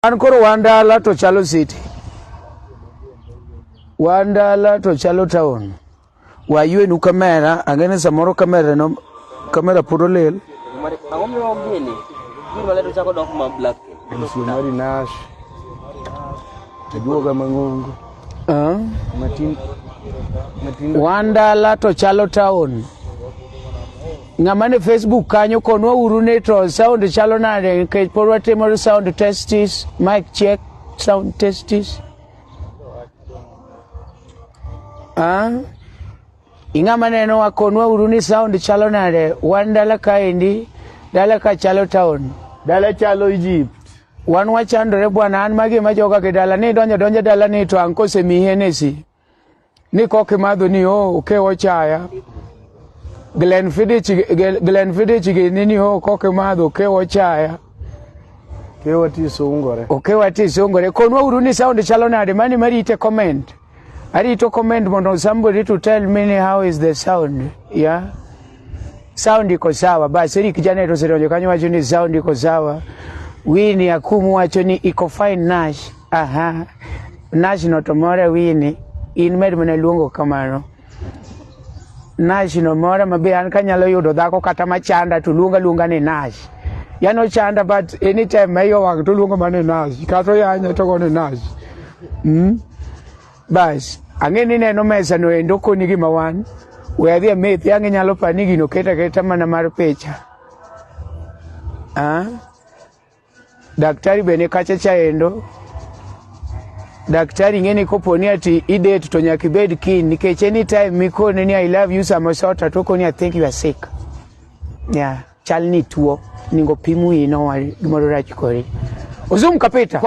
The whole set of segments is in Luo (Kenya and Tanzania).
An koro wandala to chalo city. Wandala to chalo town. Wayuenu kamera, ang'eni samoro kamera no kamera pod olil. Ang'o miyo gini? Gini waleto chako dok ma black. Msio mari nash. Tajuoga mang'ongo. Uh? Matin. Matin. Wandala to chalo town. Ng'ama ne Facebook kanyo konwa uru ni to sound chalo nade nikech pod watimo sound testis, mic check, sound testis. Ah? Ing'ama neno wakonwa uru ni sound chalo nade wan dala kaendi dala ka chalo town. Dala chalo Egypt. Wan wachandore bwana an magi ma joga gi dala ni donjo donjo dala ni to anko semihenesi. ni koki madho ni o oh, ke ochaya Glen Fiddich Glen Fiddich gi ni ni o oh, koki madho ke ochaya ke wati sungore o ke wati sungore konwa uru ni sound chalo nade mani marite comment arito comment mondo somebody to tell me ni how is the sound yeah sound iko sawa basi ili kijana yetu sio kanyo wacho ni sound iko sawa wini akumu wacho ni iko fine nash Aha, National to mora wini, in med mana luongo kamano. Nash no mora mabe an kanyalo yudo dhako kata machanda to luonga luonga ni Nash. Yano chanda but anytime mayo wang to luonga mana ni Nash. Kato yanya to go ni Nash. Mm. Bas, ang'e ni neno mesa no endo konyi gima wan. We adhi amethi e ang'e nyalo pani gino keta keta mana mar picha. Ah? Daktari bende kacha chaendo daktari ng'eni koponi ati idet to nyaka ibed kiny nikech anytime mikone ni i love you sama sota to okoni i think you are sick yeah chal ni tuo ningo pimu ino gimoro rach kori ozum kapita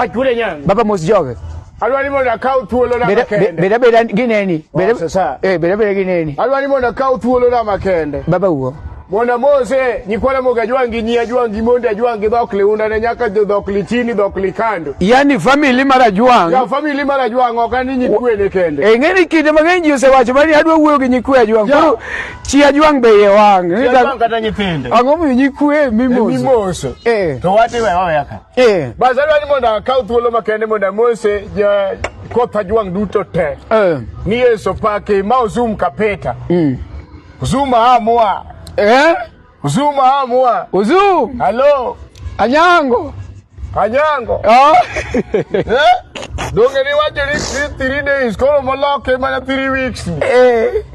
baba mos joge Alwalimo na kaw thuolo na makende. Beda beda gineni. Oh, beda sasa. Eh, beda beda gineni. Alwalimo na kaw thuolo na makende. Baba uo. Mona Mose nyikwala moga jwangi nyia jwangi monda jwangi dhok liunda ne nyaka jo dhok litini dhok likando. Yani family mara jwang. Ya family mara jwang ok ani nyikwe ne kende. E eh, ngeni kinde mang'eny ji osewacho mani adwa wuoyo gi nyikwe jwang. Koro chia jwang be ye wang. Chia jwang kata nyithinde. Ang'o mi nyikwe mimoso. E, mimoso. Eh. To wati we oya ka. Eh. Bazalwa ni mondo akaw thuolo makende mondo amose ja kotha jwang' duto te. Eh. Ni Yesu pake ma ozum kapeta. Mm. Uzuma amua. Eh? Uzuma amua. Uzum. Hello. Anyango. Anyango. Oh. eh? Donge ni wacho ni three days koro moloke mana three weeks. Eh.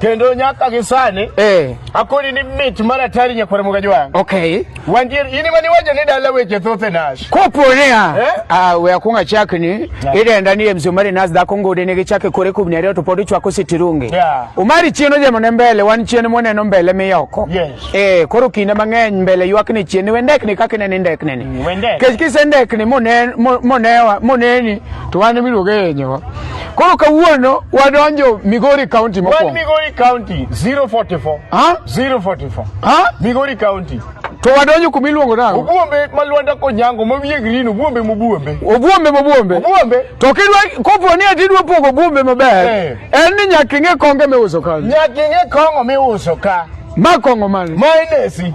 kendo nyaka gi sani eh. akoni ni mit mar atari nyakwar mugaji wang okay wandier in mani wajo ni dala weche thoth e nash kopo niya eh? ah, we akwong achak ni idenda ni mzee umari nas dhako ngode ne gichake kore kubni ariyo to pod ichwako sitirungi yeah. umari chien ojemo ne mbele wan chien moneno mbele miyoko yes. eh, koro kinde mang'eny mbele ywak ni chien we ndekni kaka inene ndekneni mm, kech kise ndekni monewa moneni to wan miluonge yenyewa Koro kawuono wadonjo Migori County mokwongo. Wan Migori County 044. Ha? 044. Ha? Migori County. To wadonjo kuma iluongo nang'o? Obuombe ma Lwanda Konyango ma wiye green obuombe mobuombe. Obuombe mobuombe. Obuombe. To kidwa kopo ni ati dwa pogo obuombe maber. Eh. En ni nyaka ing'e konge miuso kanyo. Nyaka ing'e kongo miuso ka. Ma kongo mane? Ma inesi.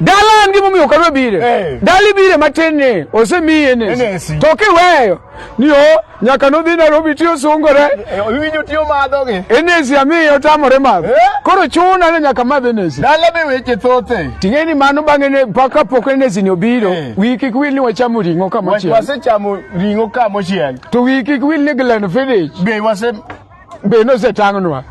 Dala en gima omiyo kadwa bire. Eh. Dali bire matin ni osemiye ni. To kiweyo ni o nyaka nodhi Nairobi tiyo sungore. Eh, eh, Winyo tiyo madho gi. Enesi amiyo otamore madho. Koro chuna ni nyaka madh enesi. Dala be weche thothe. Ting'e ni mano bang'e ne paka pok enesi ni obiro. Wiki kwil ni wachamo ring'o kama chiel. Wasechamo ring'o kama chiel. To wiki kwil ni Glen Fiddich. Be wase be nosetang'nwa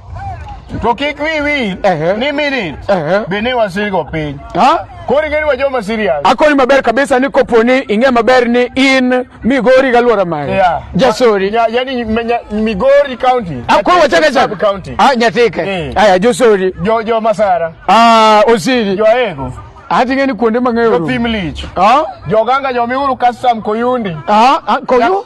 to kik wi wil Ehe. ni minit Ehe. be ni wasirigo piny Ha? koro ing'eni wa joma serious akoni maber kabisa ni kopo ni ing'e maber ni in migori galwora mari Yeah. jasori Ya- yani me- nya- migori county akoro wachaka Sub county chaka nyatike Eh. aya josori jo jo masara Ah, osiri jo aego ati ng'e ni kuonde mang'eyo jo rum. thim lich Ah? jo ganga jo miuru custom koyundi Ah, ah, koyu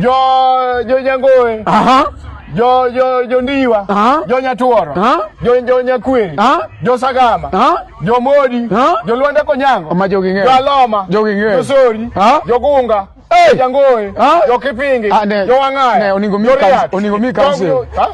jo jo nyangoe aha jo jo jo ndiwa aha jo nyatuoro aha jo jo nyakweri aha jo sagama aha jo modi aha jo lwanda konyango ma jogi ng'eyo jo aloma jogi ng'eyo jo sori aha jo gunga Hey! Jangoe, Ah. Jokipingi, Ah, ne- Jowang'aya, ne, oningo mi Joriat, kans- oningo mi kans- Jong- Ah?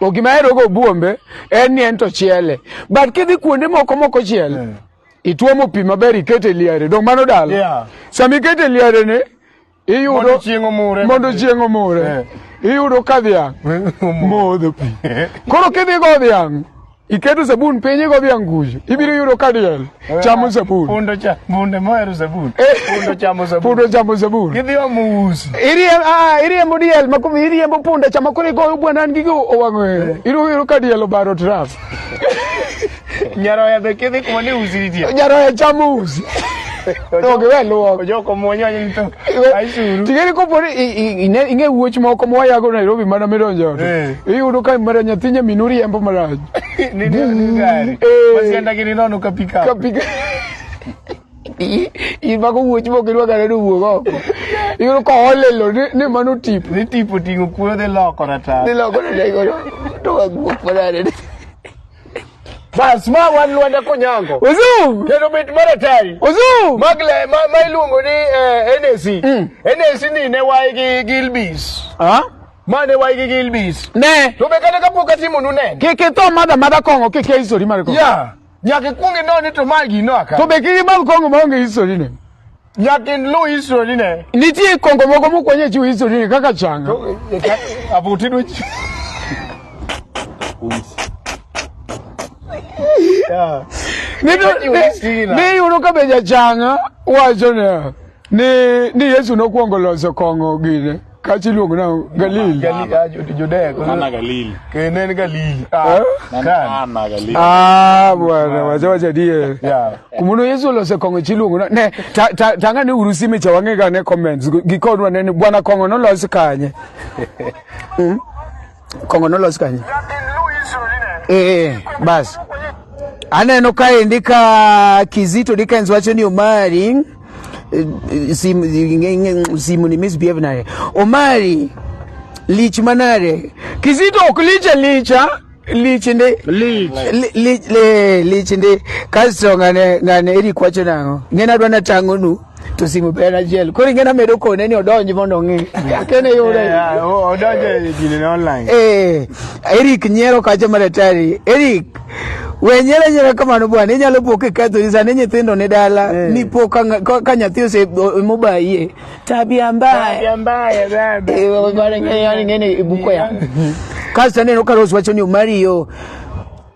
O gima ahero go buombe en ni en to chiele. But kidhi kuonde moko moko chiele. Yeah. Ituomo pi maber ikete liare. Dong mano dala. Yeah. Sama ikete liare ni iyudo mondo chieng' omure. Mondo chieng' omure. Yeah. Iyudo ka dhiang' modho pi. Koro kidhi go dhiang' iketo sabun piny igo bi anguju ibiro yudo ka diel chamo sabun pundo cha bunde mohero sabun eh. pundo chamo sabun pundo chamo sabun gidhi omo usi iriembo ah iriembo diel ma kumi iriembo punda chama kuri go bwana ngi go owango eh. iru iru ka diel obaro trap nyaroya be kidhi kuma ni usi nitie nyaroya chamo usi To gi we luok. Ojoko muonyo ni to. Aisuru. Tigeri ko pori ine inge wuoch moko mo yago Nairobi mana midonjo. Eh. Iyudo ka mara nyathinye minuri embo maraj. Ni ni gari. Wasienda eh. gini nono ka pika. Ka pika. in mago wuoch mok irwakane ni wuog oko iyudo ka olelo ni mano tip ni tip oting'o kuoyo dhi loko rata dhi loko rata to wagwuok manade Bas ma wan Lwanda Konyango. Uzum. Kendo mit mar atari. Uzum. Magle ma, ma iluongo ni eh, NAC. Mm. NAC ni ne wae gi Gilbis. Ah? Ma ne wae gi Gilbis. Ne. To be kata kapok atimo nu ne. Kike to madha madha kongo kike history mar kongo. Yeah. Nyaka ikwong inoni to magi no aka. To be kike madha kongo maonge history ne. Yakin lu history ne. Nitie kongo moko mokwenye chiwo history ne kaka changa. Abuti dwe. Niyudo ka be jachanga wacho ne ni Yesu nokwongo loso kong'o gine. Kachi luongo na Galili. Galili ah, Judea. Kana Galili. Kene ni Galili. Ah, kana Galili. Ah, bwana, wacha wacha die. Yeah. Kumuno Yesu lo se kongo chi luongo na. Ne, ta ta tanga ni urusi me chawange ga ne comments. Gikonwa ne bwana kongo no lo se kanye. Hmm? Kongo nolos kanye? Eh, basi aneno kaendi ka Kizito Dickens wacho ni Omari eh, eh, simu eh, ni misbehave naye Omari lich manare Kizito ok licha licha lich ndi lich ndi kasto ngane ngane eri kwacho nango ngena dwana tangonu to simu be en achiel koro ing'e namedo kone ni odonj mondo ong'e akene yude odonje ginene online eh Eric nyiero kacha maratari Eric we nyiero nyiero kamano bwana inyalo po kikethori sani nyithindo ni dala eh. ni po ka nyathi ose mobayie tabia mbaya tabia mbaya baba eh, bwana ng'e ni ibuko ya kasto aneno ka Rose wacho ni omari yo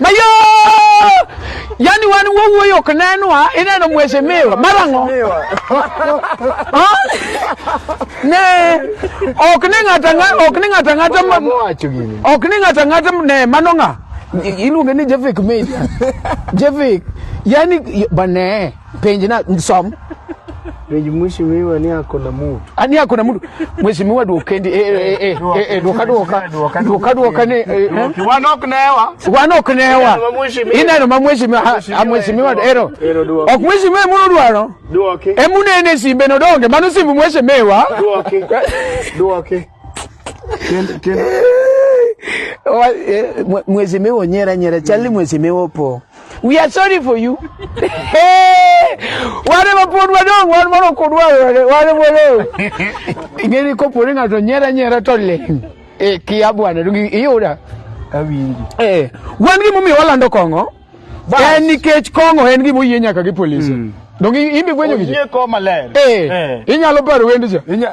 Mayo! Yaani wan wawuoyo ok nenwa, ineno mheshimiwa marang'o? Ha? Ne ok ni ng'ato ang'ata ok ni ng'ato ang'ata ma- Wacho gini. ok ni ng'ato ang'ata ne mano ng'a iluonge ni Jevik Media. Jevik yani bane Penji na som. Penji mheshimiwa ni ako na mtu. Ani ah, ako na mtu. Mheshimiwa duokendi eh eh eh eh, eh duoka duoka. Duoka duoka ni. Eh, eh. Wanok newa. Wanok newa. Ina no mheshimiwa ah, mheshimiwa ero. Ok mheshimiwa muno duaro. Duoke. Emunene simbe no donge manu simbu mheshimiwa. Duoke. Duoke. Kend kend. Mheshimiwa nyera nyera chali mheshimiwa po. We are sorry for you. Wale mapod wadong wan mono kodwa wale wale. Ingeni kopo ni ngato nyera nyera to le. E kia bwana dugi iyuda. Awinji. Eh, wan gi mumi walando kongo. En nikech kongo en gi moyie nyaka gi polisi. Mm. Dongi imbi gwenyo gi. Oyie ko maler. Eh. eh. Inyalo paro wendi cha. Inya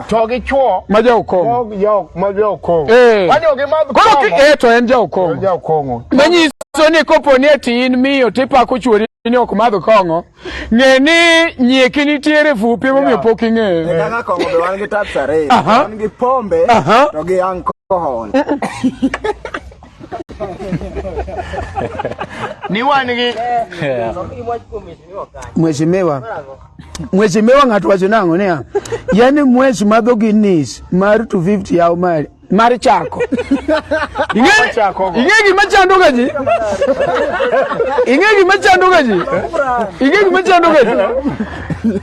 to gi chwo ma jaokong'o ma jaok ma jaokong'o eh wanyo gi madh koro ki eh to en jaokong'o jaokong'o manyiso ni kopo ni eti in miyo tipako chwori ni ok madh kong'o ng'e ni nyieki nitiere fupi momiyo pok ing'eyo e kaka kong'o be wan gi tats ariyo wan gi pombe to gi alcohol ni wan gi mheshimiwa Mweshi mewa ng'ato wacho nang'o niya, yani mweshi madho gi nis mar 250 yaw mari mar chako. Ing'e gima chandoga ji? Ing'e gima chandoga ji? Ing'e gima chandoga ji?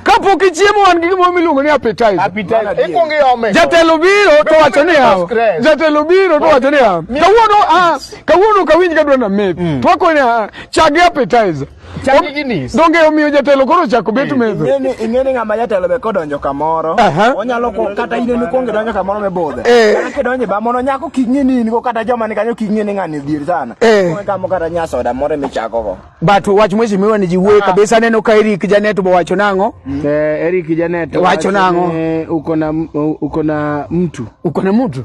Kapok ichiemo wan gi gimoro miluongo ni appetizer. Appetizer. Ikuongo iome. Jatelo biro to wacho niya. Jatelo biro to wacho niya. Kawuono ah kawuono kawinj kadwa na meth. To akoni ah chagi appetizer. Chagi ginis. Donge omiyo jatelo koro chako bet eh, mezo. Ingeni ingeni ngama jatelo be kodonjo kamoro. Onyalo ko kata ine ni konge donjo kamoro me bodhe. Eh. Kata kidonje ba mono nyako kingi ni ni kata joma ni kanyo kingi ni ngani dhier sana. Eh. Konge kamo kata nya soda more mi chako go. But wach mheshimiwa ni jiwe ah. kabisa neno ka Eric Janet bo wacho nango. Mm. Eh Eric Janet wacho nango. Uko na uko na mtu. Uko na mtu.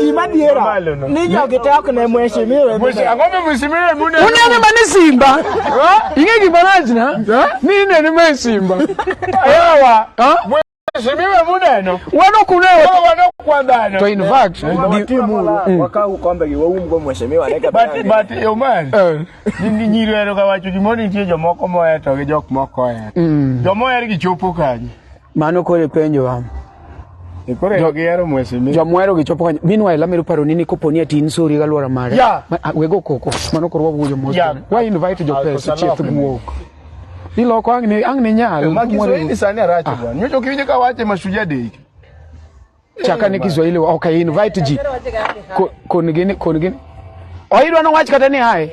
Gima diera ni jogi te ok ne mheshimiwa. Ang'o ma mheshimiwa mune? Unene mane Simba? Ing'e gima rach na? Ni inene mane Simba. Yawa. Mheshimiwa muneno. Wano kuneo. Wano kwa dhano. To in fact, mm. wakau kombe gi waumgo mheshimiwa ne kabisa. But but eh, Oman. Eh. Ni nyiro ero kawacho gimoro nitie jomoko moheto gi jok moko oheto. Mm. Jomoher gi chopo kanyo. Mano koro ipenjo wa. E koro jo gihero mheshimiwa. Jo mwero gichopo kanyo. Meanwhile amero paro nini kopo ni atin sori ga lwara mare. Yeah. Ma, ah, wego koko. Mano koro wawuoyo mos. Yeah. Why invite jo pesa chief guok. Iloko ang ni ang ni nyal. Magi so ni sani aracho bwana. Nyocho kiwinjo ka wache mashujaa dei. chaka ni Kiswahili okay invite ji koni gini koni gini oidwa no wach kata ni hai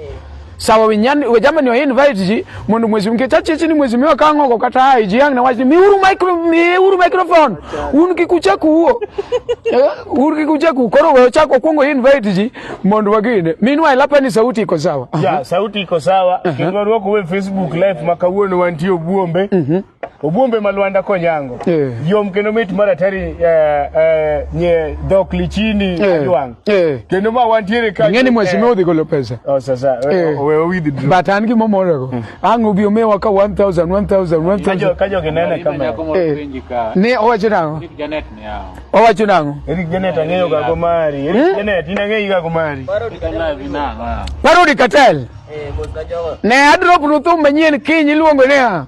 sawa winyan we jamani wa invite ji mundu mwezi mke chache chini mwezi miwa kango kwa kata hai ji yang na wach ni miuru micro miuru microphone unu kikucha kuo eh, unu kikucha kuo koro wewe chako kungo invite ji mundu wagine minwa ilapa ni sauti iko sawa ya sauti iko sawa uh -huh. kingo ruo kuwe facebook live makawuo ni wantio buombe uh mhm. -huh. Ogumbe ma Lwanda konyango eh. yom kendo mit maratari eh, eh, nye dhok lichini eh. adwang eh. kendo ma wantiere ka ng'eni mheshimiwa odhi golo pesa oh, sasa eh. we owidhi dro but an gimo morego hmm. ang' obi omewa ka 1000 1000 1000 ka jogi nene kama eh. ne owacho nang'o Eric Janet ne yawo owacho nang'o Eric Janet ang'eyo ga go mari Eric eh? Janet in ang'eyi ga go mari Parodi Katel eh, ne adrop ruthum manyien kiny iluongo niya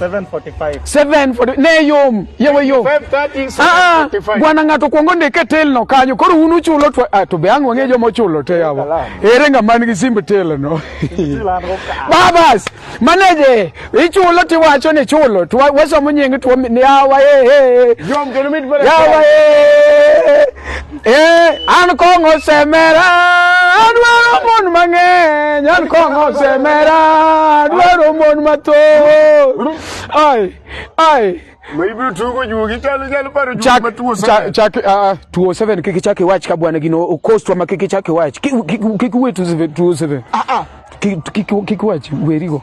740 ne yom yewe yom ah, ah, bwana ng'ato kwongo ndike telno kanyo koro un uchulo to, ah, to be ang' wang'e joma ochulo te yawa ere ng'ama nigi simb telno babas maneje ichulo tiwacho ni chulo to wasomo nying to yawa yawa Eh, an kong'o semera adwaro mon mang'eny an kong'o semera adwaro mon mathoth ai ai Ibiro tugo juogi chalo chalo paro juogi chak matuo chak sana. chak ah, tuo seven kik ichak iwach ka bwana gino okostwa ma kik ichak iwach Kik- kik kik iwe tu seven tuo seven Ah ah. kik kik kik iwach werigo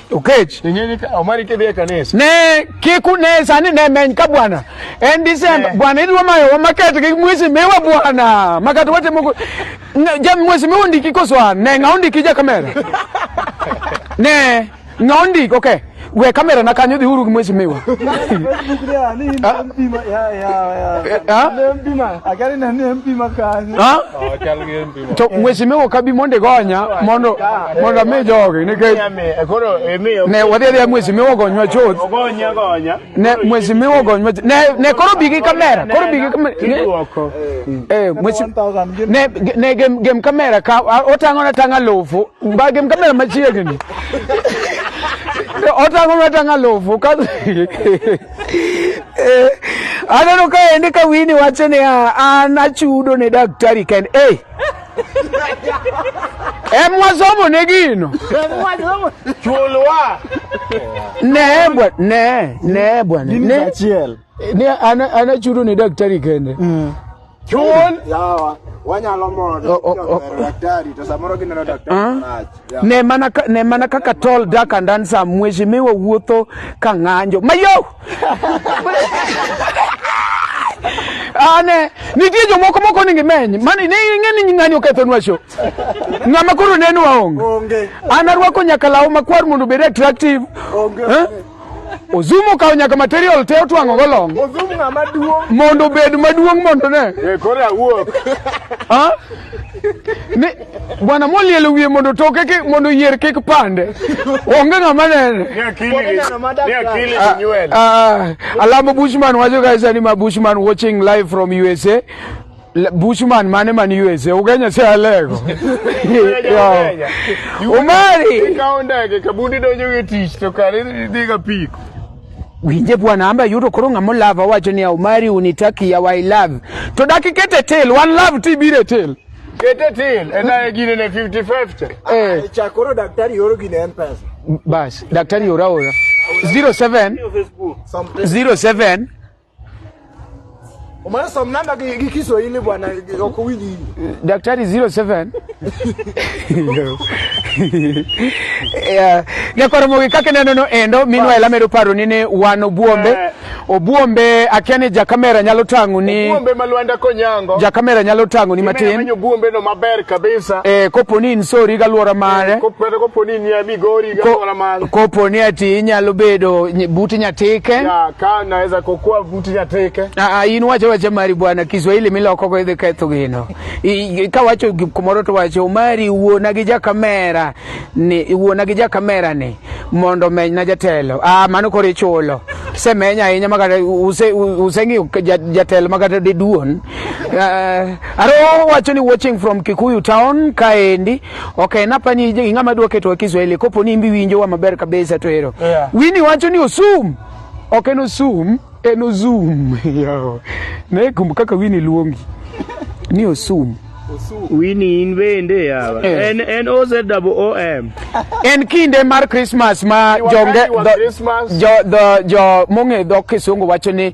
Okech omari kidhi e kanisa ne kik une sani ne meny ka bwana en Disemba eh. bwana idwa mayo wamaket gi mwezi miwa bwana makat watimo ja mwezi miwa ndiki koswa ne ng'a ondiki ja kamera ne ng'a ondiki okay we kamera na kanyo dhiuru gi mwezi miwa to mweshimiwa kabi monde gonya mondo mondo ame jogi nikech ne wadhi adhiya mweshimiwa gonywa chuth ne mweshimiwa gonywa ne ne koro bigi kamera koro bigi kamera eh ne ne gem gem kamera ka otango na tanga lofu ba gem kamera machiegni otango na tanga lofu ka Eh, aneno ka ende ka wini wacho ni ah, an achudo ne daktari ken hey. em wasomo ne gino chulwa ne bwa ne ne bwa ne ne ana ana chudo ne daktari kende mm. Chul. Yawa. Wanyalo mondo oh, oh, oh. daktari to samoro gineno daktari ah. marach. Ne mana ne mana kaka tol dak and dansa mheshimiwa wuotho ka ng'anjo. Mayo. Ane nitie jomoko moko ni ngimeny mani ne ing'e ni ng'anyo kethonwa show. Ng'ama koro neno waonge. An arwako nyaka law makwar mondo obed attractive. Onge. Eh? Ozumo kawo nyaka material te otwang'o go long. Ozumo ng'ama duong'. Mondo obed maduong' mondo ne. Eh, koro awuok. Ha? Ni bwana molielo wiye mondo toke ki mondo yier kik pande. Onge ng'ama nene. Ni akili. Ni akili ah, nywele. Ah, ah, Alamo Bushman wacho guys ani ma Bushman watching live from USA. Bushman mane man USA Ugenya si alego Umari ikawo ndege kabundi donjo e tich to kare dhi ga piko winje bwana amba yudo koro ng'amo love awacho ni Umari unitaki ya I love to daki kete tel one love ti bire tel kete tel ena e gine ne 50 50 eh ah, chakoro daktari yoro gine mpesa bas daktari yoro ora 07 07 Umeanza mnamba ki Kiswahili bwana uko wingi. Daktari 07. Yeah. Ne kwa mo kake neno no endo minwa ela medo paro ni ne wan obuombe. Eh. Obuombe akene ja kamera nyalo tangu ni Obuombe malwanda konyango. Ja kamera nyalo tangu ni matin. Manyo obuombe no maber kabisa. Eh kopo ni insori ga luora mare. Eh, kopo kopo ni ni amigori ga luora mare. Kopo ni ati inyalo bedo buti nyatike. Ya, ka naweza kokuwa buti nyatike. Ah, ah in wacho wacho mari bwana Kiswahili miloko go idhi ketho gino. I, ka wacho kumoro to wacho mari wuona gi ja kamera ni wuona gi ja kamera ni mondo meny na jatelo. Ah mano kore chulo. Se menya ahinya makata use use ngi jatelo makata de duon. Uh, ah, aro wacho ni watching from Kikuyu town kaendi. Ok en apani ing'ama dwa keto Kiswahili kopo ni imbi winjowa maber kabisa to ero. Yeah. Wini wacho ni osum. Ok en osum, en ozum. Yawa. Ne kum kaka Wini luongi. Ni osum. Wini in bende yawa. Eh. En en O Z double O M. En kinde mar Christmas ma Ni jonge wakati wa do- Christmas. jo do- jo mong'e dhok kisungu wacho ni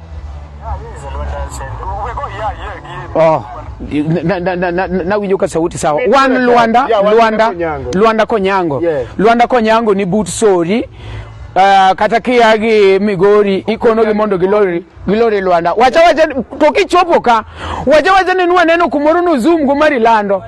Oh, na, na, na, na, na winjo ka sauti sawa. Wan Luanda, Luanda, Luanda Konyango. Luanda Konyango ni but sori. Uh, kata kia gi Migori ikono gi mondo gilori gilori Luanda. Wacha wacha to kichopo ka. Wacha wacha ni nwa neno kumoro no zoom go mari lando.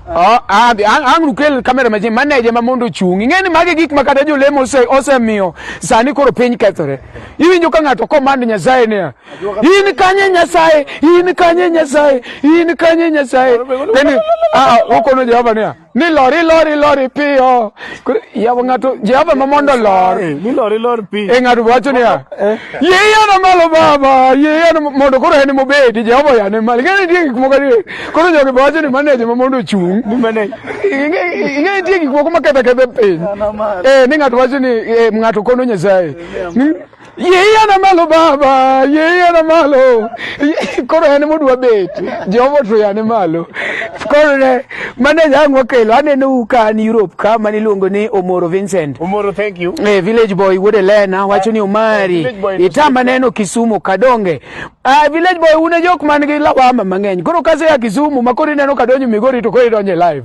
Oh, ah, ang, ang lukel kamera maji manager ma mondo chung. Ingeni mage gik ma kata jolemo ose osemiyo sani koro piny kethore. Iwinjo ka ng'ato komand Nyasaye niya. In kanye Nyasaye, in kanye Nyasaye, in kanye Nyasaye. Then ah, ah okono Jehova niya. ni lori lori lori piyo yawa ng'ato jehova ma mondo lor eh, ni lori lor pi e ng'ato wacho niya eh. yiyano malo baba yiyano mondo koro en mobedi jehova yane malo ing'e nitie gik moko adier koro jogi be wacho ni maneje ma mondo ochung' ing'e nitie gik moko maketha kethe piny eh, ni ng'ato wacho ni ng'ato kono nyasaye Yiena malo baba, yiena malo. Koro en modwa bet. Jehova to yane malo. Koro ne mane jang wakelo aneno ka an Europe ka mane iluongo ni Omoro Vincent. Omoro thank you. Eh, village boy wuod Elena wacho ni Omari. Itamba neno Kisumu Kadonge. Ah, village boy une jok man gi lawama mang'eny. Koro kase ya Kisumu makori neno kadonjo Migori to koro idonje live.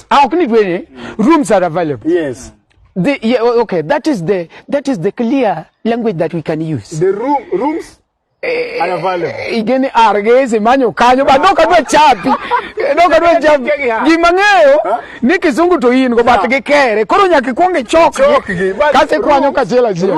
How can it win? Rooms are available. Yes. The, yeah, okay, that is the that is the clear language that we can use. The room rooms eh, are available. Igeni argezi manyo kanyo ba doka dwa chapi. Doka dwa chapi. Gimang'eyo ni kizungu to in go bat gi kere. Koro nyaka ikwong ichok. Kasi kwanyo kachela zia.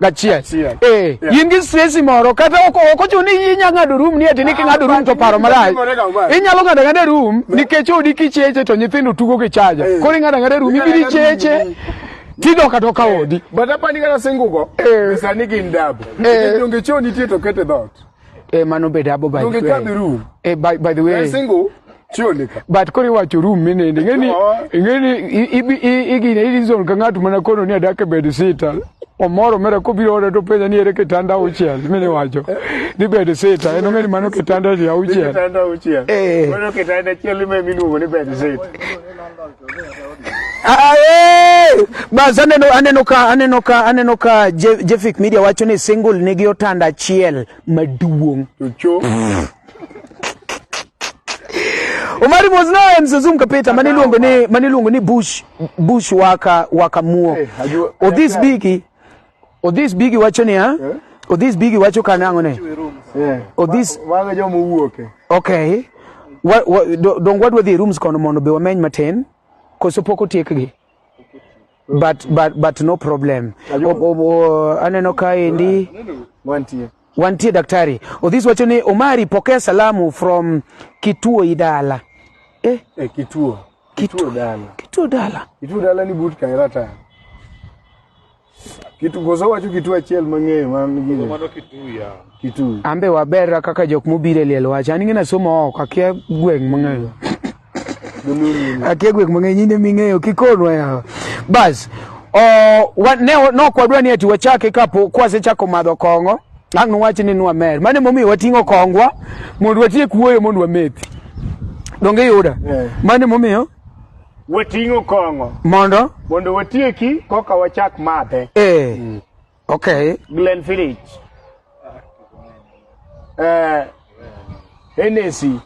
gachiel eh in gi stress moro kata ok ochuno ni inya ng'ado room ni ati ni king'ado room to paro marach inyalo ng'ado ng'ado room nikech odi kicheche to nyithindo tugo gi chaja eh. koro ing'ado ng'ado room ibiri cheche tido kata ka eh. odi but apani kata singugo eh. sani gin dabu eh. nikech donge choo nitie to kete dhoot Eh, mano bed abo by the way. Room. Eh, by, by the way. Single. Chionika. But kori wacho room minende. Ngeni, ngeni, ibi, igine, ili zon kangatu mana kono ni adake bed sita. Omoro mera kubiro ora to penya ni ere kitanda uchiel. Mini wacho. Ni bed sita. Eno ngeni mano kitanda ni uchiel. Kitanda uchiel. Eh. Mano kitanda chiel ime minuwa ni bed sita. Ah, eh! Bas aneno aneno ka aneno ka aneno ka Je- Jefik Media wacho ni single nigi otanda achiel maduong'. Cho. Omari was na en Zazum Kapeta mane iluongo ni mane iluongo ni Bush Bush waka waka muo. Eh, ajua- Odhis Bigi Odhis Bigi wacho niya, eh? Odhis Bigi wacho ka nang'o ne? Eh. Odhis wanga jomo wuoke. Okay. Wa, wa, do, dong wadwa dhi rooms kono mondo be wameny matin koso pok otiekgi. But but but no problem. O, o, o, aneno ka endi wantie. Wantie daktari. Odhis wacho ni Omari pokea salamu from kituo idala. Eh, eh kituo. Kituo, kituo dala. Kituo dala. Kituo dala ni but kairata. Kitu koso wacho kitu achiel mang'eyo man gini. Mano kitu ya. Kitu. Ambe waberra kaka jok mobiro e liel wach. An ing'e somo oko akia gweng' mang'eyo. Akia gweng' mang'eyo nyine ming'eyo kikonwa yawa. Bas. Oh, wa, ne nok wadwa ni ati wachake kapo kwasechako madho kong'o. Ang' wach ni nwa mer. Mane momiyo wating'o kongwa mondo watiek wuoyo mondo wamethi. Donge yuda. Yeah. Mane momiyo Wating'o kong'o. Mondo? Mondo watieki koka wachak madhe. Eh. Mm. Okay. Glen Village. Eh. Hennessy.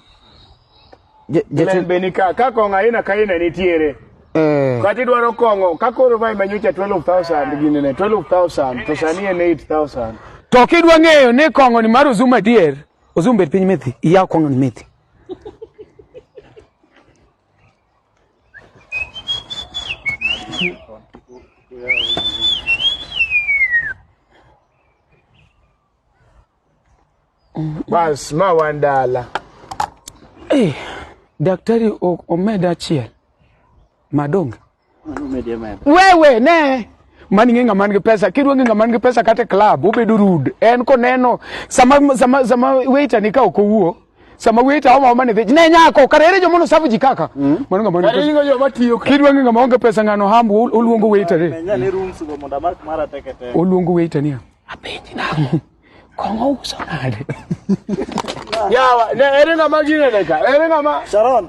Glen Benika. Ka kong'o aina ka aina nitiere. Eh. Kati dwaro kong'o. Ka koro vai manyocha 12,000 ginene. 12,000. To sani en 8,000. To kidwa ng'eyo ni kong'o ni mar Ozuma dier. Ozuma bet piny methi. Iyaw kong'o ni methi. Bas, ma wan dala. Eh, daktari o- omed achiel madonge Wewe ne mani ng'e ng'ama nigi pesa kidwa ng'e ng'ama nigi pesa kata club obedo rude en koneno sama sama sama waiter ni ka ok owuo sama waiter homa homa ne dhich ne nyako kare ere jomono safu ji kaka mm. mano ng'ama nigi pesa joma tiyo kidwa ng'e ng'ama onge pesa ng'ano hambu oluongo waiter re oluongo waiter ni apenji nang'o kong'o uso nade yawa ne ere ng'ama ginene ka ere ng'ama Sharon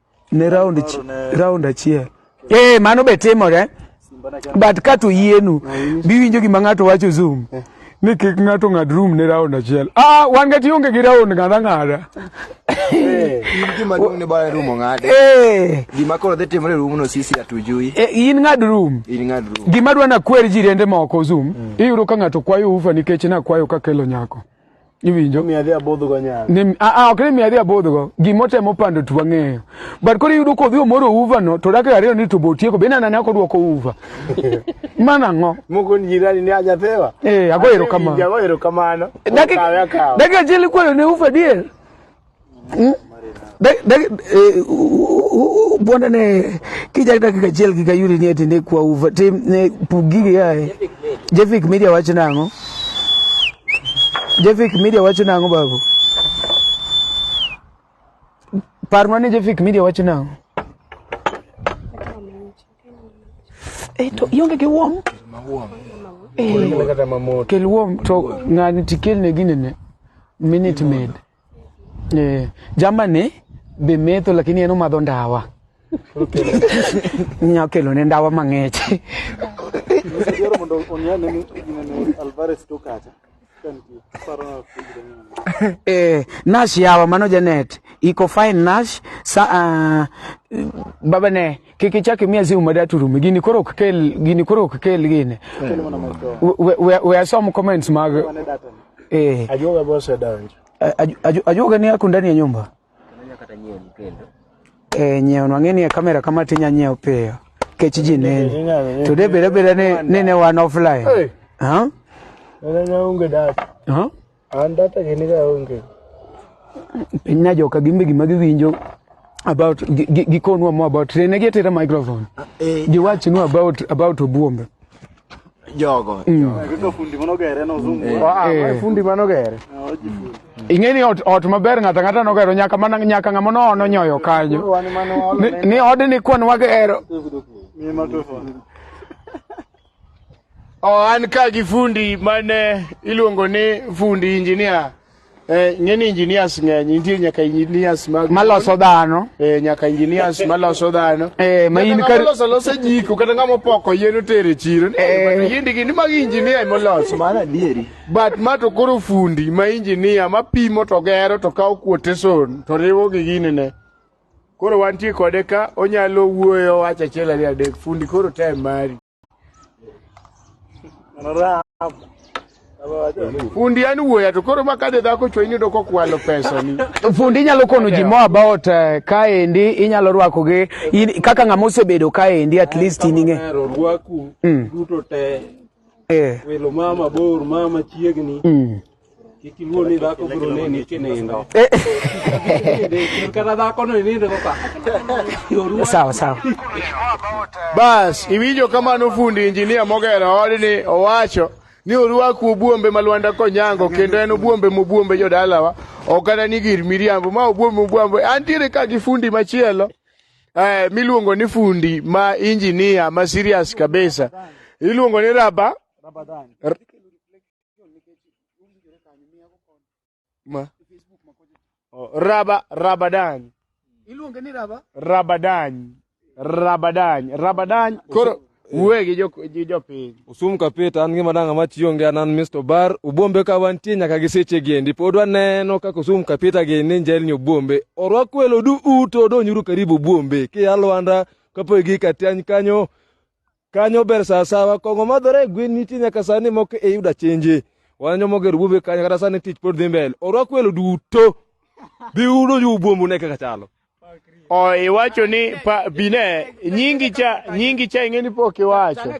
ne round round achiel eh mano be timore but ka to yienu biwinjo gima ng'ato wacho zoom eh. ni kik ng'ato ng'ad room ne round achiel ah wan ga tionge gi round ng'ada ng'ada eh, gima duong ne bare room ng'ade eh gima koro dhi timore room no sisi atujui eh, in ng'ad room in ng'ad room gima dwana kwer jirende moko zoom mm. iyudo ka ng'ato kwayo ufa nikech na kwayo ka kelo nyako iwinjo ni adhi abodhgo nyalo ni a a ok ni mi adhi abodhgo gimotemo pando tu ang'eyo but koro iyudo kodhi omoro uva no to dakika ariyo ni to botieko be nana ne ok odwoko uva mana ng'o moko ni jirani ni ajathewa eh ago erokamano ago erokamano dakika dakika achiel ikwayo ne uva dier Hmm? Eh, bwanda ne kijak dakika achiel gi kayudi ni eti ne kwa uva tim ne pug gigi yae jefik media wacho nang'o jefik media wacho nang'o babu parnwa ni jefik media wacho nang'o eto eh, ionge gi wom eh, kel wom to ng'ani tikelne ginene minute made Eh, jamani be metho lakini en omadho ndawa. Nya kelo ne ndawa mang'ich. Yoro mondo onyane ni inene Alvarez to kacha. Eh, Nash yawa mano Janet. Iko fine Nash. Sa, uh, baba ne kik ichak imiya simu ma data orume gini koro ok kel gini koro ok kel gini We- we- we asom comments mag eh Ajuoga be osedonjo. a- aju- aju- ajuoga ni ako ndani ya nyumba eh nyiewo nwang'e ni e kamera kama tinya nyiewo piyo kech ji neni to de beda beda ni ni ne wan offline Hey. ha Nene onge data. ha An data gini ga onge. Piny na joka gimbe gima giwinjo about gikonwa mo about tene gi tera microphone. Ah, eh. Giwachi nu about about obuombe. Jogo. Mm. Jogo fundi manogere no zungu. Eh. Ah, ah eh. fundi manogere. Ah, ing'e ni ot, ot maber ng'ato ang'ata nogero nyaka mana nyaka ng'ama noono nyoyo kanyo ni, ni odni kwan wagero Oh, an ka gi fundi mane iluongo ni fundi injinia eh, ng'eni engineers ng'eny nitie nyaka engineers mag maloso dhano eh, nyaka engineers maloso dhano eh, ma in kar loso loso jiko kata ng'ama opoko yien otere chiro eh, yindi gi ni mag engineer moloso mana dieri but ma to koro fundi ma engineer ma pimo to gero to kawo kuote son to riwo gi ginene Koro wantie kode ka onyalo wuoyo wacha achiel ariyo adek fundi koro time mari. Fundi an wuoya to koro makade dhako chwe inido kokwalo pesa ni. Fundi inyalo kono ji more about uh, eh, kaendi inyalo rwako gi in, kaka ng'ama osebedo kaendi at least in ing'e. Rwaku mm. duto te. Eh. Welo mama bor mama chiegni. Mm. Kik iluor ni dhako biro neni kinindo. Kik kata dhako no inindo go ka. Yoruwa. Sawa sawa. Bas, iwinjo kamano fundi injinia mogero odni owacho ni orwak obuombe ma Lwanda Konyango kendo en obuombe mobuombe jodalawa ok kata ni gir miriambo ma obuombe mobuombe antiere ka gi fundi machielo eh, miluongo ni fundi ma injinia ma serious kabisa iluongo ni raba Ma. Oh, raba Rabadany. Iluonge ni raba? Rabadany. Rabadany. Rabadany. Koro wuoye gi jo gi jopiny. Usum kapita an gima dang' ama tiyo nge an Mr. Bar ubombe ka wantie nyaka gi seche giendi pod waneno kaka usum kapita gini njelni ubombe orwak welo du uto donyuru karibu ubombe ki alwanda kapo gi katiany kanyo Kanyo ber sasawa, kong'o madhore e gwen nitie nyaka sani moko e yuda chenje. Wanjo moger wuobe kanyo kata sani tich pod dhi mbele. Orwak welo duto. Bi udo ju buombu ne kaka chalo. O iwacho ni pa bine nyingi cha nyingi cha ing'eni pok iwacho.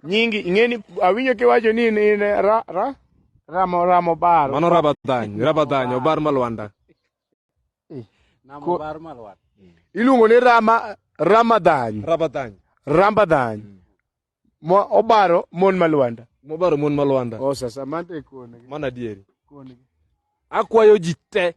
Nyingi ing'eni awinjo kiwacho ni in in ra ra ramo ramo baro. Mano Ramadhany, Ramadhany, obar malwanda. eh. iluongo ni rama ramadhany ramadhany ramadhany mm. mo obaro mon malwanda mobaro mon malwanda oh, sasa mante kone mana dieri kone akwayo ji te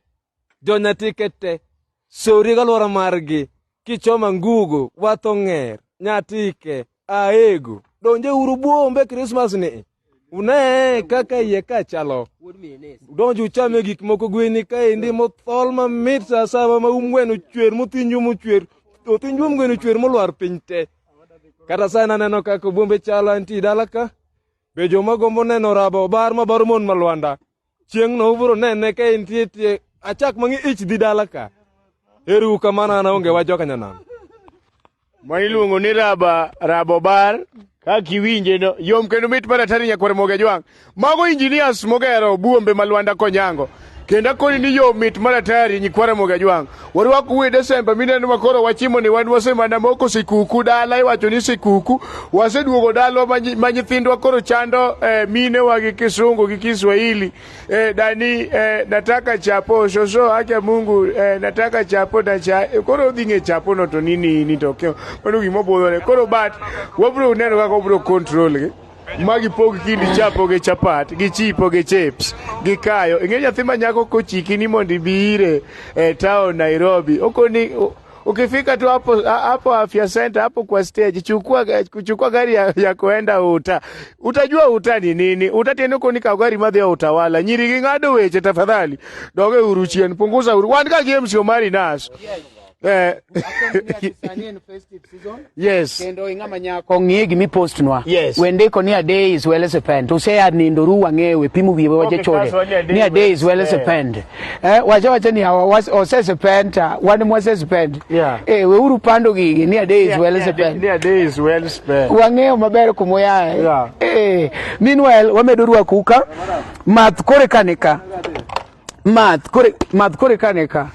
jonyatike te sori galwora margi kichoma ngugo wato ng'er nyatike Aego, donje uru buombe Christmas ni. Une kaka iye ka chalo. Donje uchame gik moko gweni ka endi mothol mamit sa saba ma umgweno chwer mothinju mochwer. Othinju umgweno chwer molwar piny te. Kata sana neno kaka buombe chalo anti dalaka. Be joma gombo neno rabo bar ma bar mon malwanda. Chieng'no ubiro nene ka entie tie achak mangi ich dhi dala ka. Eru kamano an onge wa joka nyanam. Ma iluongo ni raba rabo bar kaka iwinje no yom kendo mit mar atari nyakwar moge jwang. Mago engineers mogero buombe ma Lwanda Konyango. Kendo akoni ni yom mit mar atari nyikwara moge jwang. Warwak uwe Desemba mineno ma koro wachimo ni wan wasemana moko sikuku dala iwacho ni sikuku waseduogo dalwa ma nyithindwa koro chando eh, mine wa gi kisungu gi Kiswahili eh, dani eh, nataka chapo soso acha Mungu eh, nataka chapo na cha eh, koro dhi ng'e chapo no to nini ni to mano gima obudhore koro but wabro neno kaka obro control gi ma gipog kind chapo gi chapat gi chipo gi chips gi kayo ing'e nyathi ma nyako kochiki ni mondo ibi ire e town nairobi okoni ukifika tu hapo hapo afya center hapo kwa stage chukua chukua gari ya, ya kuenda uta utajua uta ni nini uta tena uko ni gari madhi ya utawala nyiri gi ng'ado weche tafadhali doge uruchien punguza uru wan ka games omari nas Eh. yes. Kendo ing'ama nyako ng'e gimi postnwa. Yes. We ndiko ni a day is well as a pen. To say ad nindo ru wang'e we pimu wiye waje chode. Ni a day is well as a pen. Eh, waje waje ni hawa was or says a pen ta one more says a pen. Yeah. Eh, we uru pando gigi ni a day is well as a pen. Ni a day is well as a pen. Wang'e maber kumoya. Yeah. Eh, meanwhile wamedo ruwa kuka. Math kore kanika. math kore math kore kane ka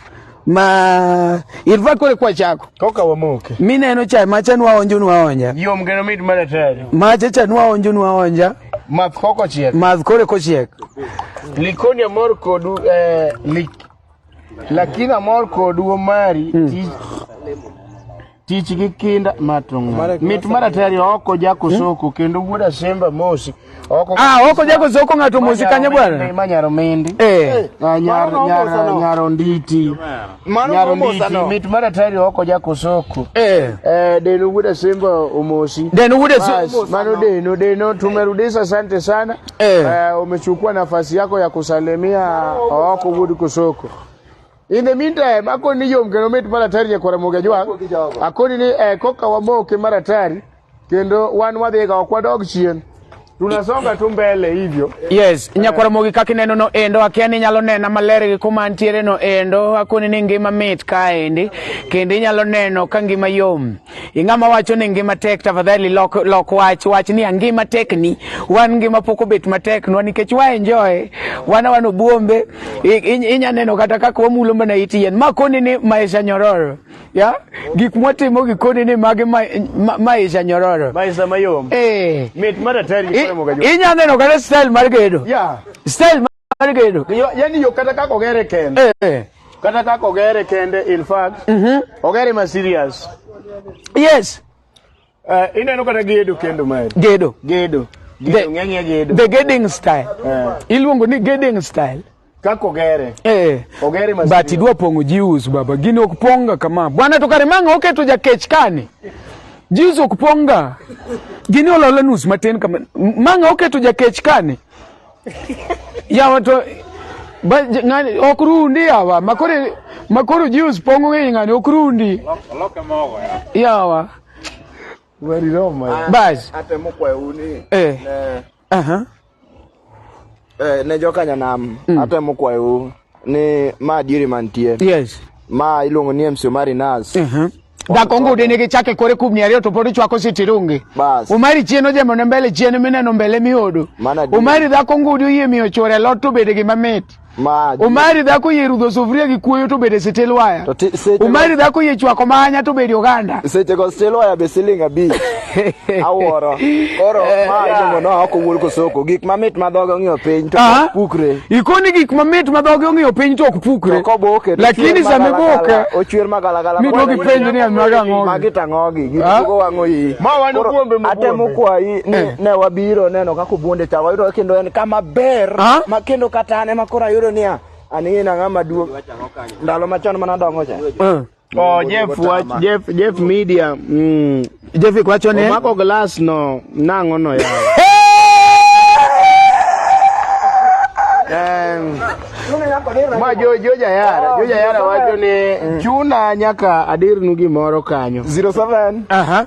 ma irva kore kwa chako koka wamoke mineno cha macha nwa onjo nwa onja yom geno mit mara tari macha cha nwa onjo nwa onja math koko chiek math kore ko chiek likoni amor kodu eh, lik lakini amor kodu omari mm. tich gi kinda matonga mit maratari oko jako hmm? soko kendo wuod asemba mosi oko ah oko jako soko ngato mosi kanya bwana manyaro mindi eh ah, nyar nyar nyaro nditi nyaro nditi mit maratari oko jako soko eh eh deno wuod asemba omosi deno wuod asemba mano deno deno tumerudisha asante sana eh, eh umechukua nafasi yako ya kusalimia oko wuod kusoko In the meantime, akoni ni yom kendo mit mar atari nyakwara mogi ajwang'. Akoni ni eh, koka wamoke mar atari kendo wan wadhiga ok wadog chien. Tunasonga tu mbele hivyo. Yes, nyakwara mogi kaka ineno no endo akia ni nyalo nena maler gi kuma antiere no endo akoni ni ngima mit kaendi kendo inyalo neno ka ngima yom. Ing'ama wacho ni ngima tek, tafadhali lok, lok wach wach ni ngima tek ni wan ngima pok obet matek nwa nikech wa enjoy wana wan obuombe inya neno kata kaka wamulo mana it yien ma koni ni maisha nyororo ya gik mwatimo gi koni ni mage ma, ma, maisha nyororo maisha mayom eh mit mara tari inya neno kata style mar gedo yeah style mar gedo. Yo- Yaani yo kata kaka ogere kende. Eh. Kata kaka ogere kende in fact. Ogere ma serious. Yes, Eh, ineno kata gedo kendo mari. gedo. Gedo. The- Gedo ng'enyie gedo. The gedding style. Eh, Iluongo ni gedding style. kaka ogere. Eh. Ogere ma But serious. idwa pong'o jius baba, gini ok pong'ga kama. Bwana to kare mang'a oketo jakech kani. Jius ok pong'ga. Gini ololo nus matin kama. Mang'a oketo jakech kani. ya watu ba ngani okrundi yawa makore makoro juice pongo ngi ngani okrundi loke mogo ya yawa wari roma ya bas atemo kwa uni eh aha eh ne jokanya nam mm. atemo kwa uni ni ma diere mantie yes ma iluongo ni MC Omari Nas uh mhm. -huh. Dakongo ude nigi chake kore kubni ariyo to pod ichwako sitirungi. Bas. Umari chien ojemo ne mbele chien mineno mbele miodo. Umari dhako ngudi oyie miyo chore lot to bede gima mit. Maji. Umari dhako yie rudho sufuria gi kuoyo to bede sitil waya. Umari dhako yie chwako manya to bede oganda. Seche go sitil waya be siling abich. awuoro koro eh, ma iluongo no ok owuol kosoko gik mamit ma dhoge ong'iyo piny to ah. ok pukre ikoni gik mamit ma dhoge ong'iyo piny to ok pukre koboke lakini sama iboke ochwer magalagala miduogo ipenjo ni amaga ng'ogi magi tang'ogi ah. giduogo wang'o yi ma wan kuombe mo atemo kwayi ni eh. ne wabiro neno kaka obuonde cha wayudo kendo en kama ber ah. ma kendo kata an ema koro ayudo niya aning'e nang'ama duong' ndalo machon mana dongo cha Oh, Jeff wach Jeff Jeff media. Mm. Jeff kwacho ne. Omako glass no nango no ya. Em. Ma jo jo jayara, jo jayara wacho ni chuna nyaka adirnu gimoro kanyo. 07. Aha.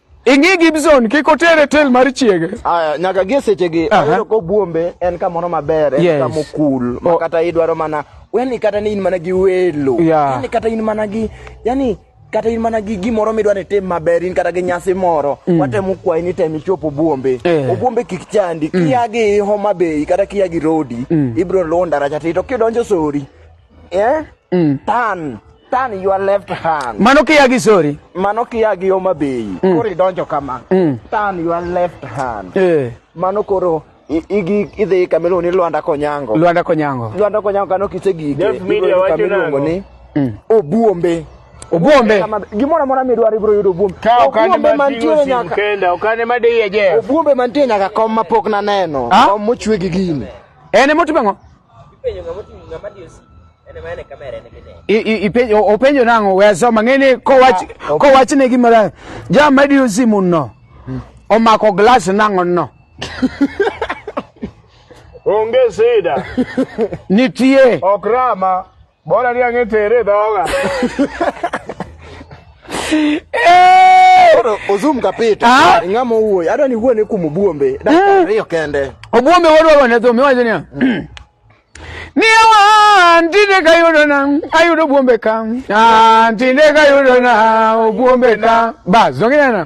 Ing'i Gibson kik otere tel mar chiege. Aya nyaka gie sechegi uh -huh. ko buombe en kamoro maber en yes. kamo cool oh. kata idwaro mana yani kata ni in mana gi welo yeah. yani kata in mana gi yani kata in mana gi gimoro midwa ni tim maber in kata gi nyasi moro mm. watemo kwayi ni tem ichop obuombe eh. obuombe kik chandi mm. kia gi Homa Bay kata kia gi Rodi mm. ibro luwo ndaracha to kidonjo Sori eh? mm. tan Turn your left hand. Mano kia gi sorry. Mano kia gi Homa Bay. Mm. Koro idonjo kama. Mm. Turn your left hand. Eh. Mano koro igi idhi kama iluongo ni Lwanda Konyango. Lwanda Konyango. Lwanda Konyango kano kisegike. Dev Media wacho nango. Ni, mm. Obuombe. Obuombe. Gimoro amora midwaro ibiro yudo Obuombe. Ka okane mantiere nyaka. Kenda okane madiye je. Obuombe mantiere nyaka kom mapok naneno. Ah? Kom mochwe gi gini. En emotimo ang'o? Ipenjo ng'ama oting'o ng'ama diyo simu. En ema en e kamera en ema ineno. I- i- ipenjo- o- Openjo nang'o we asoma ng'eni kowach Ah, ok. kowach ne gima ra- jam madiyo simu no omako glass nang'o no Onge sida, nitie ok rama. Bora ni ang'e tere dhoga. Koro ozum kapita. Ah. Ng'ama owuoyo. Adwa ni wuone kuom Obuombe. Dakika eh. ariyo kende. Obuombe wadwa wane dhum iwacho niya. Miya wan tinde kayudo na ayudo Obuombe ka. Ah tinde kayudo na Obuombe ka. Bas, zonge na.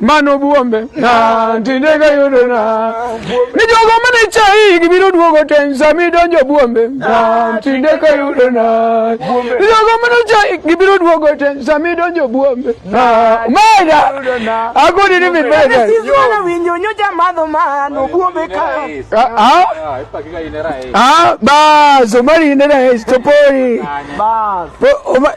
mano buombe na tinde ka yudo na ni jogo mane chai gibiro duogo ten sami donjo buombe na tinde ka yudo na ni jogo mane chai gibiro duogo ten sami donjo buombe na mega agudi ni mibega Sizuana winjo nyocha madho mano buombe ka ah ah bas omari nera estopori Bas.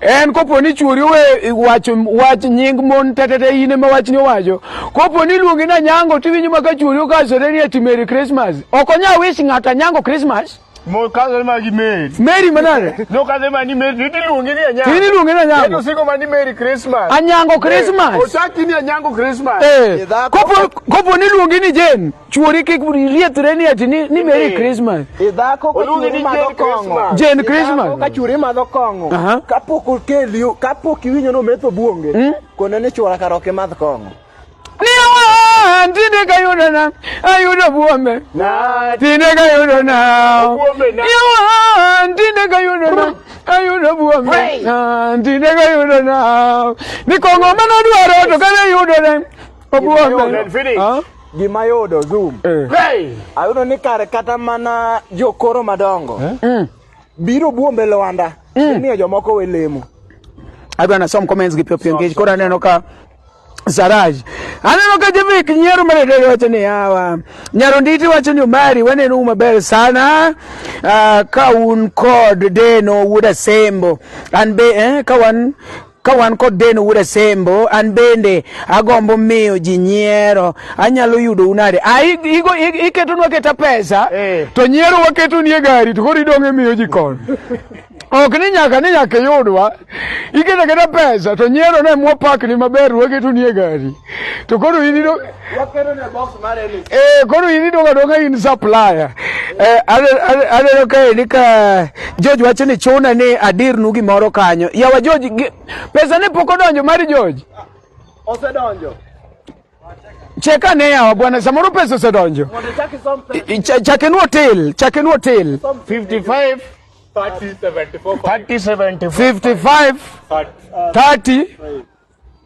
En kopo ni chuori owe wacho wach nying mon tetete in ema wachni owacho. Kopo ni luongi na nyango tiwinjo maka chuori okasore ni ati Merry Christmas. Ok onya wish ng'ata nyango Christmas. Mo kazo ma gi Mary. Mary manare. No kazo ma ni Mary ni luongi ni anyango. Ni luongi ni anyango. Eto siko ma ni Merry Christmas. Anyango Christmas. Osaki ni anyango Christmas. Eh. Kopo kopo ni luongi ni Jane. Chuori kik riethre ni ati ni, ni Merry Christmas. Idhako ka chuori madho kong'o. Jane Christmas. Idhako ka chuori madho kong'o. Uh -huh. Kapok okeli, kapok iwinjo no metho buonge. Mm? Kone ni chuora kar ok imadh kong'o. Ni awa, tinde ka yudo na, ayudo buombe. Na, tinde ka yudo na. Buombe na. Ni awa, tinde ka yudo na. ayudo buombe tinde ka yudo na ni kong'o mane odwaro to kane yudo ne obuombe Gima yudo Zoom. Eh. Hey! Ayudo ni kare kata mana jokoro madongo. Eh? Mm. Biro buombe Lwanda. Mm. Miyo jomoko we lemo. Adwa na som comments gi piopio ngech kora neno ka Saraj. Aneno ka Jevik nyiero maredere wacho ni hawa. Nyaro nditi wacho ni umari waneno uma ber sana. Uh, ka un kod deno wuda sembo. An be eh, ka wan Ka wan kod Den Ura Sembo, an bende agombo miyo ji nyiero. Anyalo yudo unade? Ah, iketonwa keta pesa, eh. to nyiero waketo nie gari, to koro idong'e miyo ji kon. ok ni nyaka ni nyaka iyudwa iketa keta pesa to nyiero ne mwapakni maber waketo nie gari to koro in Eh, koro in idonga donga in supplier. Eh, aneno kae ni ka George wacho ni chuna ni adirnu gimoro kanyo. Yawa George, pesa ne pok odonjo mar George. Osedonjo. Cheka ne yawa bwana, samoro pesa osedonjo. Chakenu hotel, chakenu hotel. 55 30 74 30 75 30 30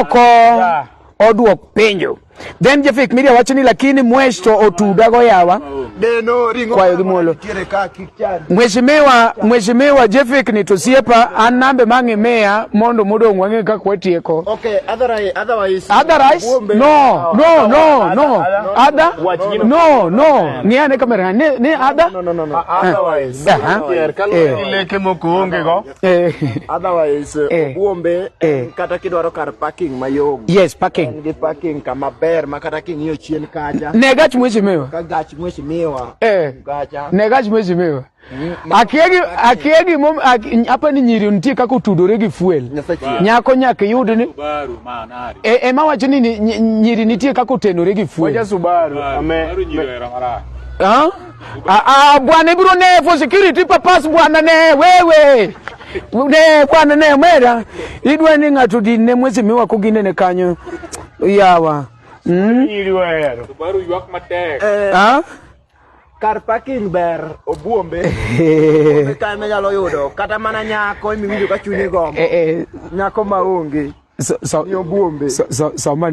oko oduok penjo then jefik miria wacho ni lakini mwesh to otuda go yawa kwayo gi muolo mheshimiwa mheshimiwa jefik ni to siepa an nambe mang'e meya mondo modong' wang'e kaka watieko okay, otherwise, otherwise, otherwise no no no no ada no no ni ane kamera ni ni ada no no no no otherwise uh -huh. yeah. yeah. Eh. Otherwise, eh. Obuombe eh. kata kidwaro kar parking mayom. Yes, parking. En gi parking kama ber ma kata king'iyo chien kacha. Ne gach mheshimiwa. Ka gach mheshimiwa. Eh. Gacha. Ne gach mheshimiwa. Mm, akiegi akiegi mom hapa ni nyiri nitie kaka otudore gi fuel nyako nyaka yud ni e, e ma wacho ni nyiri nitie kaka otenore gi fuel Subaru ame Subaru nyiri era marach Ah, ah, bwana ibro ne for security purpose bwana ne wewe ne bwana ne mera idwe ni ng'ato din ne mwezi miwa kugine ne kanyo yawa mm? Subaru ywak matek. ah? kar parking ber obuombe kane nyalo yudo kata mana nyako imiwinjo ka chunyi gombo eh, eh. nyako maonge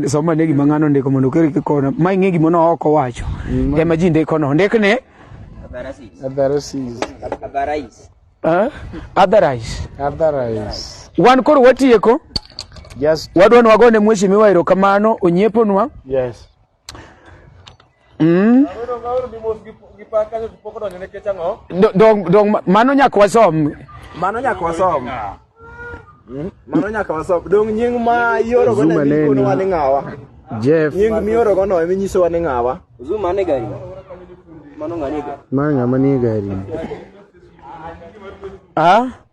sama ne gima ng'ano ndiko mondo okel kikona ma ing'e gima no ok owacho mm. ema ji ndikono ndik ni wan koro watieko wadwa ni wagone mheshimiwa erokamano onyeponwa Mm. Do- Dong, dong, mano nyaka wasom. Mano nyaka wasom. Mm. Mano nyaka wasom. Dong nying ma ioro go Zuma ne neno. mikono wani ng'awa. Jeff, Nying mioro go no eminyiso wani ng'awa. Zuma ne gari. Mano ng'ani gari. ma ng'ama nie gari. Ah?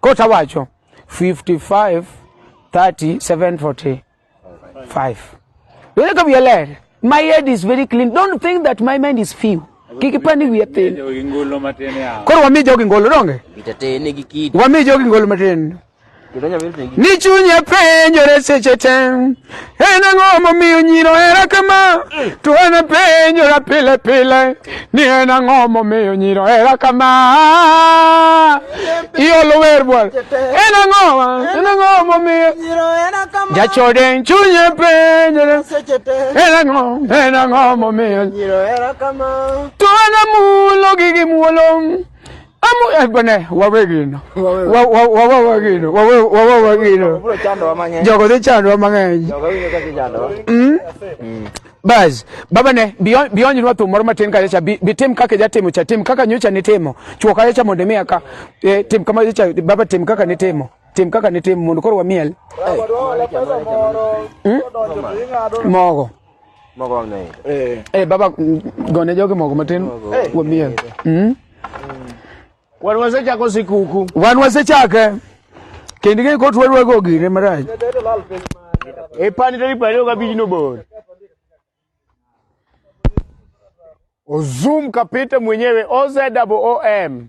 Kota wacho 55 30 745 Wele ka wiele my head is very clean don't think that my mind is few kik ipani wiye thin koro wami jogi ngolo donge wami jogi ngolo matin ni chunye penjore seche te En ang'o momiyo nyiro hera kama? To en apenjora pile pile ni en ang'o momiyo nyiro hera kama? Iolo wer bwana. En ang'o? En ang'o momiyo? Jachode en chunye penjore. En ang'o? En ang'o momiyo? To en amulo gi gimuolo. bone wawegino wawawegino wawawegino jogo dhi chandwa mang'eny hmm? Hmm. bas baba ne bionjnwa thum moro matin kachacha bitim kaka ijatimo cha tim kaka nyocha nitimo chwo kachacha mondo imiya ka e, tim kama cha baba tim kaka nitimo tim kaka nitimo mondo koro wamiel hmm? mogo Mogo wang' naye. Eh. Eh baba gone jogi mogo matin kuom miel. Mm. Wan wasechako sikuku. Wan wasechake. Kendo ing'e kot warwago gire marach. E pani tarik piero ariyo gabich nobor. Ozum kapita mwenyewe OZWOM.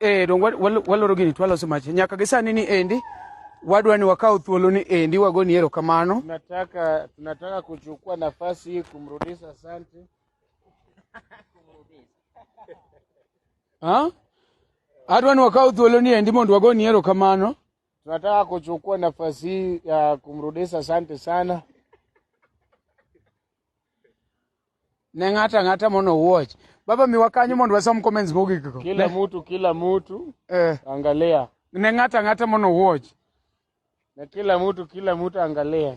Eh, dong waloro gini twaloso machi nyaka gi sani ni endi wadwa ni wakaw thuolo ni endi wago ni ero kamano. Tunataka, tunataka kuchukua nafasi hii kumrudisha asante. Ha? Adwa ni wakaw thuolo ni endi mondo wago ni ero kamano. Tunataka kuchukua nafasi hii ya kumrudisha asante sana. ne ng'ato ang'ata mondo owuoch baba miwa kanyo mondo wasom comments mogik go kila mtu kila mtu eh. angalia ne ng'ato ang'ata mondo owuoch na kila mtu kila mtu angalia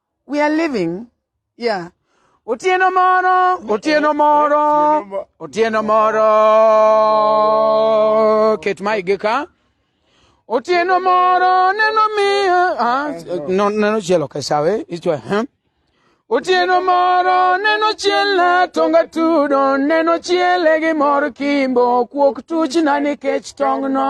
We are living, yeah. Otieno moro, otieno moro, otieno moro. Ket mai gi ka. Otieno moro, neno miyo. Ah, no, neno chielo ka sawe. Ichwa, huh? Otieno moro, neno chiela, tonga tudo, neno chiele gi mor kimbo, kuok tuchna nikech tongno.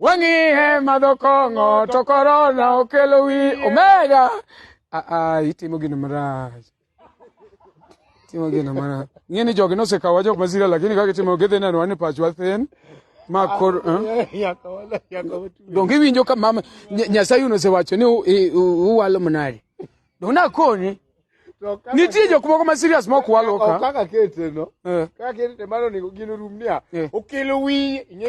wang'iye madho kong'o to korona okelo wi omega aa itimo gino marach timo gino marach ng'e ni jogi nosekawa jok masira lakini kaka itimo gidhi neno wan ni pachwa thin ma kor eh? donge iwinjo ka mama Nya- nyasaye nosewacho ni u- i- u- uwalo mnadi donge nakonyi nitie jok moko ma serious ma ok walo ka kaka keteno Eh. kaka keteno mano onego gin orum niya Eh. okelo wiye ing'e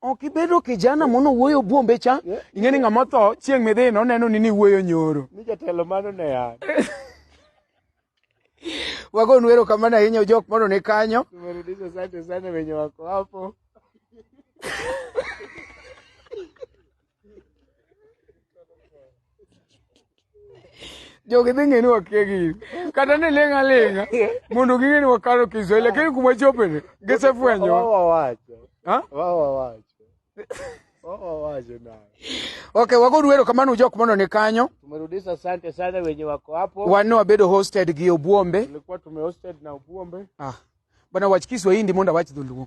Ok ibedo kijana mono wuoyo buombe cha. Ing'e ni ng'ama otho chieng' midhi noneno ni niwuoyo nyoro. Ni jatelo mano ne ya. Wagonu wero kamano ahinya jok mondo ne kanyo. Tumerudisha asante sana wenye wako hapo. jogi dhi ng'e ni wakia gini kata ni ling' aling'a mondo ging'e ni wakalo kiswahili lakini kuma chopeni gisefwenyo ok wagodu ero kamano ujok mondo ni kanyo tumerudisha asante sana wenye wako hapo wanne wabedo hosted gi obuombe tulikuwa tumehosted na obuombe ah. bwana wach kiswahili mondo awach dholuo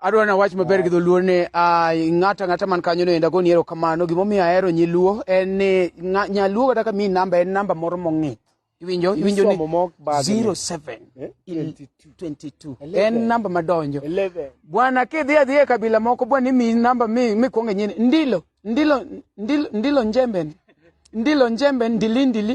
adwa ni awach maber gi dholuo ni ah, ng'ato ang'ata man kanyo no enda goni erokamano gimomiyo ahero nyiluo en ni ng'a- nyaluo kata ka mi namba en namba moro mong'ith iwinjo iwinjo ni Isomo mok bag ni. 07 Eh, il- 22. 22 Eleven. en namba madonjo Eleven. bwana kidhi adhi e kabila moko bwana imi namba mi mikwonge nyini ndilo ndilo ndilo, ndilo njembe ni. ndilo njembe ndili ndili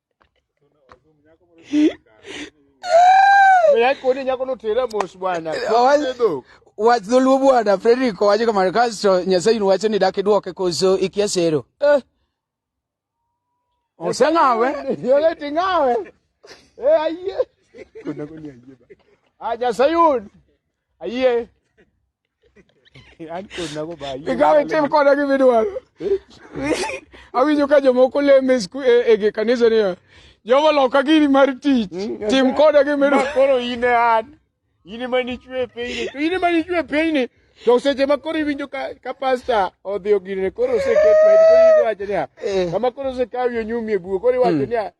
Yakoni nyako notera mos bwana. Owa- wach dholuo bwana frederick owacho kamano kasto nyasaye in wacho ni dak idwoke koso ikia sero eh. oseng'awe Yole tingawe. Eh ayie. Kuna koni ayie ba. Ah Nyasaye un. Ayie. An kod nago ba. Ikawe tim koda gi midwaro. Awinjo ka jomoko leme e, e kanisa niya. Jehova loka gini mar tich. Mm, tim koda gi midwaro. Koro in e an. In ema nichwe e pinyni. To in ema nichwe e pinyni. To seche ma koro iwinjo ka, ka pasta odhi ogirne koro oseket ma koro iwacho niya. Eh. Kama koro osekawi onyumi e bugo koro iwacho hmm. niya.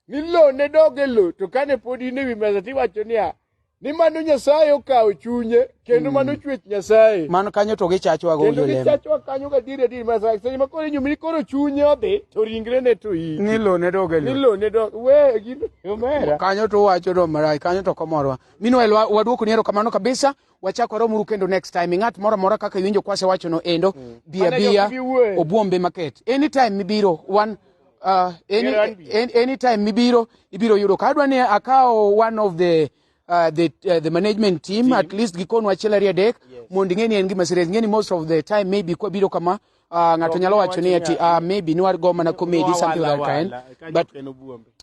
ni lowo ne dog e lowo to kane pod in e wi mesa tiwacho niya ni mano nyasaye okawo chunye kendo mano mm. chwech nyasaye mano kanyo to gichachwa go kendo gichachwa kanyo ga diri diri ma sa seche ma koro inyumi koro chunye odhi to ringre ne to yi ni lo ne doge ni lo ne doge we gi omera kanyo to wacho do marai kanyo to komorwa minwa waduoko ni ero kamano kabisa wachako waromuru kendo next time ng'at moro amora kaka iwinjo kwasewacho no endo mm. bia bia obuombe market anytime mibiro one uh, any, any, anytime mibiro ibiro yudo ka adwa ni akawo one of the Uh, the, uh, the management team, team at least gikonwa achiel ariyo adek yes. mondo ing'e ni en gima serious ing'e ni most of the time maybe kwabiro kama Uh, ng'ato nyalo wacho ni ati uh, maybe niwar go mana comedy something like that kind but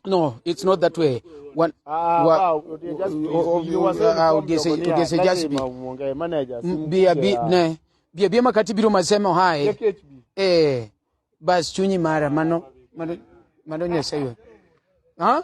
no it's not that way One, wa, ugese just be bia bi ne bia bia makati biro masemo hai eh bas chunyi mara mano mano mano nyasaye ha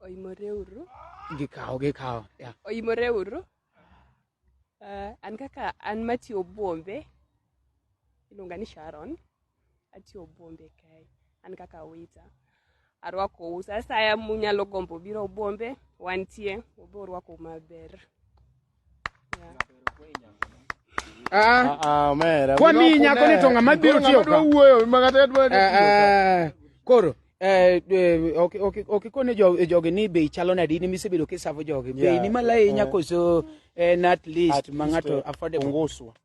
Oimoreuru. Gikawo, gikawo. Yeah. Oimoreuru. Uh, an kaka an matiyo Bombe, iluonga ni Sharon, atiyo Bombe kae, an kaka wita. Arwako u sa asaya munyalo gombo biro Bombe, wantie, obe orwako maber. Ah, Ah, omera. kwa Wino mi nyako kune. ni to ng'ama biro Ng'ama tiyo dwa ka? wuoyo, ma kata dwa tiyo ka. Ah, ah, koro eh, eh, ok- ok- ok ikone jo- jogi ni bei chalo nadi ni misebedo kisavo jogi bei Yeah, ni malo ahinya eh. koso en at least At ma least, ng'ato eh, affordable onguswa.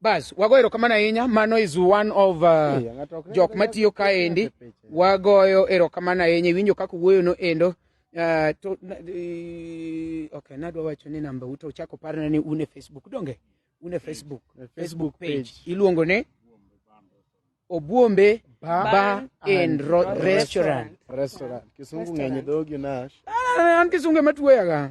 Bas, wago erokamano ahinya. Mano is one of uh, jok matiyo kaendi. Wagoyo erokamano ahinya. Iwinjo kaka wuoyo no endo. Uh, to, uh, okay, nadwa wacho ni namba uto uchako parna ni une Facebook donge? Une Facebook. Mm. Facebook page. Iluongo ni Obuombe Bar, Bar and Restaurant. Restaurant. Kisungu ngenye dhogi nash. Ah, an kisungu ematuoyaga.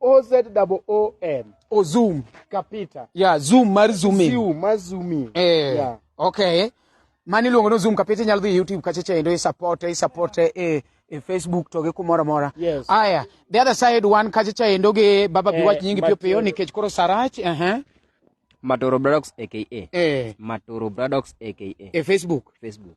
O Z double O M. O zoom. Kapita. Yeah, zoom mar zoom in. Zoom mar zoom in. Eh. Yeah. Okay. Mani luongo no zoom kapita nyalo dhi YouTube kacha cha endo i support i support e eh, e Facebook to gi kumoro mora. Yes. Aya, the other side one kacha cha endo gi baba bi wach eh, nyingi pio pio nikech koro sarach. Eh. Uh -huh. Matoro Bradox aka. Eh. Matoro Bradox aka. E Facebook. Facebook.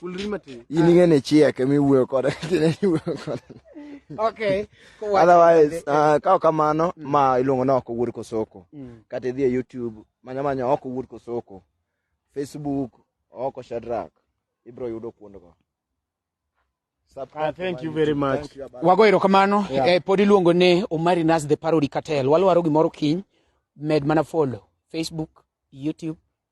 Kulri matin. In ing'e ni chiek ema iwuoyo kode kine iwuoyo kode. Okay. Otherwise, uh, kao kamano mm. ma iluongo ni ok owuod kosoko. Mm. Kata idhi e YouTube manya manya ok owuod kosoko. Facebook ok Shadrack. Ibro yudo kuondgo. Uh, thank you very much. Wago erokamano. Yeah. Eh, pod iluongo ni Omari Nas the Parody Cartel. Walwaro gimoro kiny. Med mana follow. Facebook, YouTube,